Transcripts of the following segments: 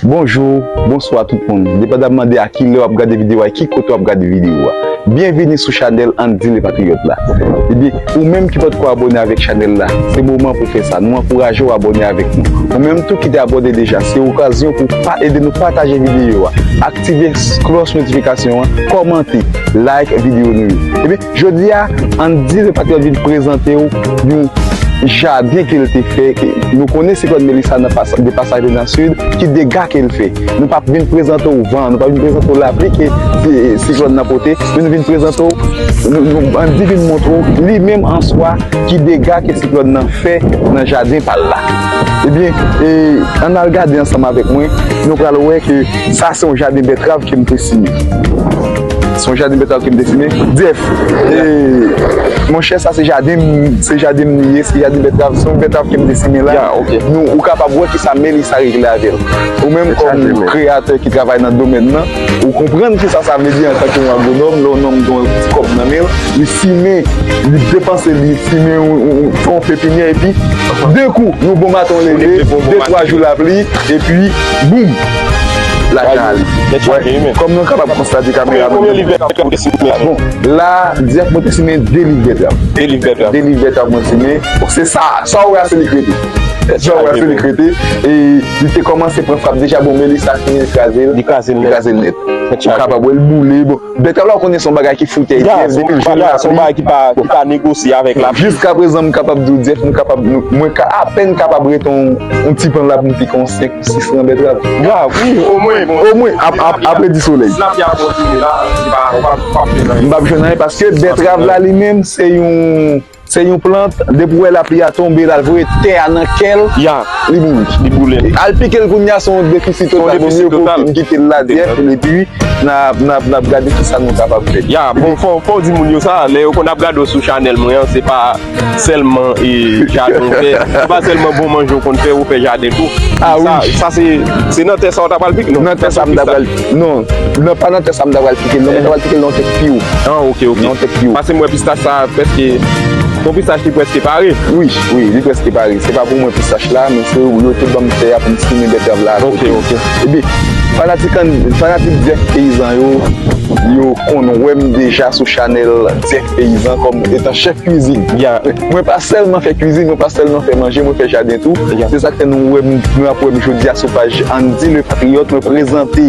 Bonjour, Bonsoir tout moun, depandamman de a ki lè wap gade video a e ki kote wap gade video a. Byenvini sou chanèl Andy Le Patriote la. Ebyen, ou menm ki potko abone avèk chanèl la, se moman pou fè sa. Nou ankouraje w abone avèk nou. Ou menm tou ki te abone deja, se okazyon pou pa ede nou pataje video a, aktive kloch notifikasyon an, komante, like video nou yo. Ebyen. Jodi a, ann di se pat yo vin prezante w yon jaden ke l te fè, ke nou konnen siklòn Melissa nan pas, de pasaj li nan sid, ki dega ke l fè. Nou pa vin prezante w van, nou pa vin prezante w lapli ke siklòn nan pote, men nou vin prezante w, ann di vin montre w li menm an swa ki dega ke siklòn nan fè nan jaden pa l la. Ebyen, ann al gade ansanm avèk mwen, nou pral wè ke sa se yon jaden bètrav ke m te simen. Son jardin betal kem desine. Def. E mon chè sa se jardin se jardin li ye, se jardin betal, son betal kem desine la. Ya, ok. Nou ou ka pa bwè ki sa Melissa regle avèl. Ou menm kom kreyatè ki travay nan domèn nan, ou konprann ki sa sa vle di antan ke yon agronòm, lè yon nonm gen yon ti kob nan menl, li simen, li depanse li simen yon fon pepinyè epi de kou yon bon maten ou leve, de twa jou lapli epi boum. Lakay, kòm nou kapab konstate kamera nou gen pou nou te simen. Bon, la, di ak mwen te simen 2 liv bètèv. 2 liv bètèv. 2 liv bètèv mwen simen. Se sa, sa ou wè a se li k rete. Sa ou wè a se li k rete. E li te kòmanse pran frap deja, bon men li sa fini li kraze l. Li kraze l nèt. Li kraze l nèt. Ou kapab wè l boule. Bèta la ou konnen son bagay ki foute Jeff depi l jwenn la son bagay ki pa negosye avèk la jiska prezan m kapab di w Jeff nou kapab mwen ka apèn kapab rete yon ti pan la pou m pike yon 5 ou 6 ran bètrav grav wi omwen omwen apre di solèy tilapya kontinye la m pap jwenn anyen paske bètrav la li menm se yon. Se yon plant, depi w wè lapli a tonbe, l al voye tè a nan kè l, li mouri. Li boule. Al pike l kounye a se yon defisi total. Vaut mieux pou nou kite l la dirèk epi n ap gade kisa nou kapab fè. Ya, bon fò w di moun yo sa, lè yo konn ap gade w sou chanèl mwen an, se pa sèlman jaden ou fè, se pa sèlman bon manje ou konn fè, ou fè jaden tou. Sa se nan tè sa w ta pral pike? Nan tè sa m ta pral. Non, nan pa nan tè sa m ta pral pike l non, mwen ta pral pike l nan yon tèt pi wo. Ah ok ok. Nan yon tèt pi wo. Pase m wè pistach sa prèske, se yon pistach ki prèske pare. Wi, wi, li prèske pare. Se pa pou mwen pistach la, men se yo te ban m tè a pou m simen bètèv la akote. Ok, ok. Epi, fanatik an, fanatik Dèf Peyizan yo, yo konn wè m deja sou chanèl Dèf. Peyizan kòm etan chèf kwizin. Ya, mwen pa sèlman fè kwizin, mwen pa sèlman fè manje, mwen fè jaden tou. Se sa k fè nou wè m, nou ap wè m jodi a sou paj Andy Le Patriote, mwen prezante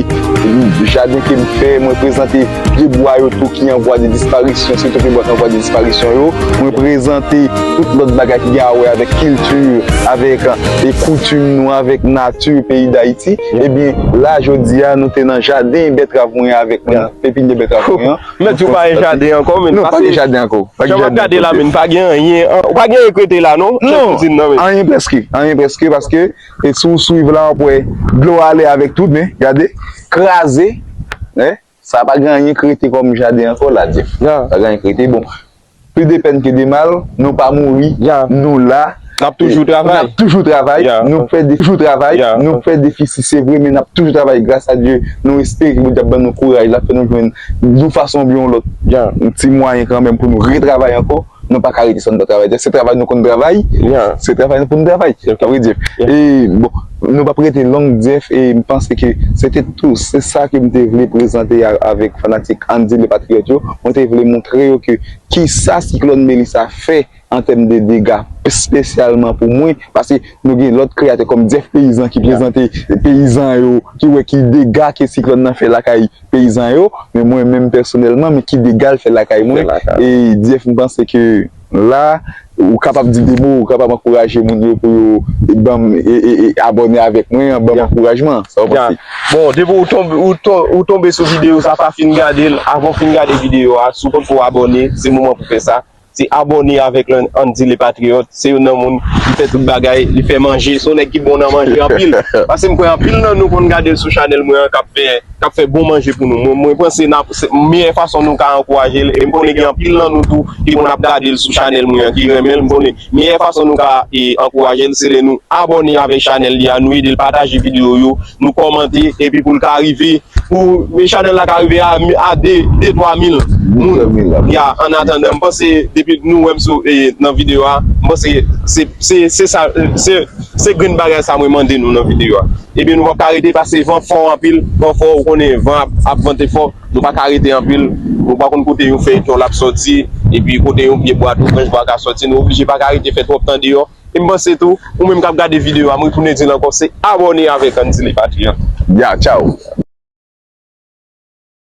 jaden ke m fè, mwen prezante pye bwa yo tou ki an vwa de disparisyon, sitou pye bwa ki an vwa de disparisyon yo, mwen prezante tout lòt bagay ki gen a wè avèk kilti, avèk koutim nou, avèk nati peyi Dayiti. Ebyen, la jodi a, nou te nan jaden bètrav mwen avèk pepinye bètrav mwen an. Mèt di ou pa gen jaden ankò menn. Non, pa gen jaden ankò. Jan m ap gade la menn, pa gen anyen. Ou pa gen anyen krete la non, chèf kouzin nan menn. Anyen prèske, anyen prèske paske si ou swiv la w ap wè dlo a ale avèk tout men, gade, kraze. Sa pa gen anyen krete kòm jaden ankò la, Dyèf. Pa gen anyen krete. Bon, Plis de pèn ke de mal, nou pa mouri, nou la, nap toujou travay, nou fè defisi se vre men nap toujou travay gras a Dye, nou espere ke Bondye ap ban nou kouraj lap fè nou jwenn yon fason oubyen yon lòt yon ti mwayen kanmenm pou nou retravay ankò, nou pa ka rete san nou pa travay, se travay nou konn travay, se travay nou konn travay, a vrè di, e bon. Nou pap rete long Jeff e m panse ke se te tou se sa ke m te vle prezante a avèk fanatik Andy Le Patriote yo, mwen te vle montre yo ke kisa siklòn Melissa fè an tèm de dega spesyalman pou mwen paske nou gen lòt kreyatè kòm Jeff Peyizan ki prezante peyizan yo ki wè ki dega ke siklòn nan fè lakay peyizan yo men mwen menm pèsonèlman men ki dega l fè lakay mwen e Jeff m panse ke La, ou kapab di de mo, ou kapab ankouraje moun yo pou yo banm abòne avèk mwen an, banm ankourajman. Sa ou panse? Bon, depi ou tonbe sou videyo sa, pa fin gade l, avan ou fin gade videyo a, si ou potko abòne, se moman pou fè sa. Se abòne avèk Landy Le Patriote. Se youn nan moun ki fè tout bagay, li fè manje, se yon nèg ki bon nan manje anpil. Pase m kwè anpil nan nou konn gade l sou chanèl mwen an k ap fè. kap fè bon manje pou nou mwen panse nap se meyè fason nou ka ankourajel em konnen gen anpil nan nou tou ki konn ap gadel sou chanèl mwen an ki renmenl m konnen meyè fason nou ka ankourajel se lè nou abòne avèk chanèl li a nou edel pataje video yo nou kòmante epi poul ka rive pou chanèl la ka rive a 2 2 3 mil moun ya an atandan m panse depi nou wèm sou nan video a m panse se se sa se. Se grenn bagay sa mwen mande nou nan video a. Ebyen nou pap ka rete pase van fò anpil, van fò ou konnen van ap vante fò, nou pa ka rete anpil, nou pa konn kote yon fèy ton lap sòti, epi kote yon pye bwa tou branch bwa ka sòti, nou oblije pa ka rete fè twòp tan deyò. E m panse tou, ou menm kap gade video a m retounen di l ankò se abòne avèk Andy Lee Patrie. Ya tchaw!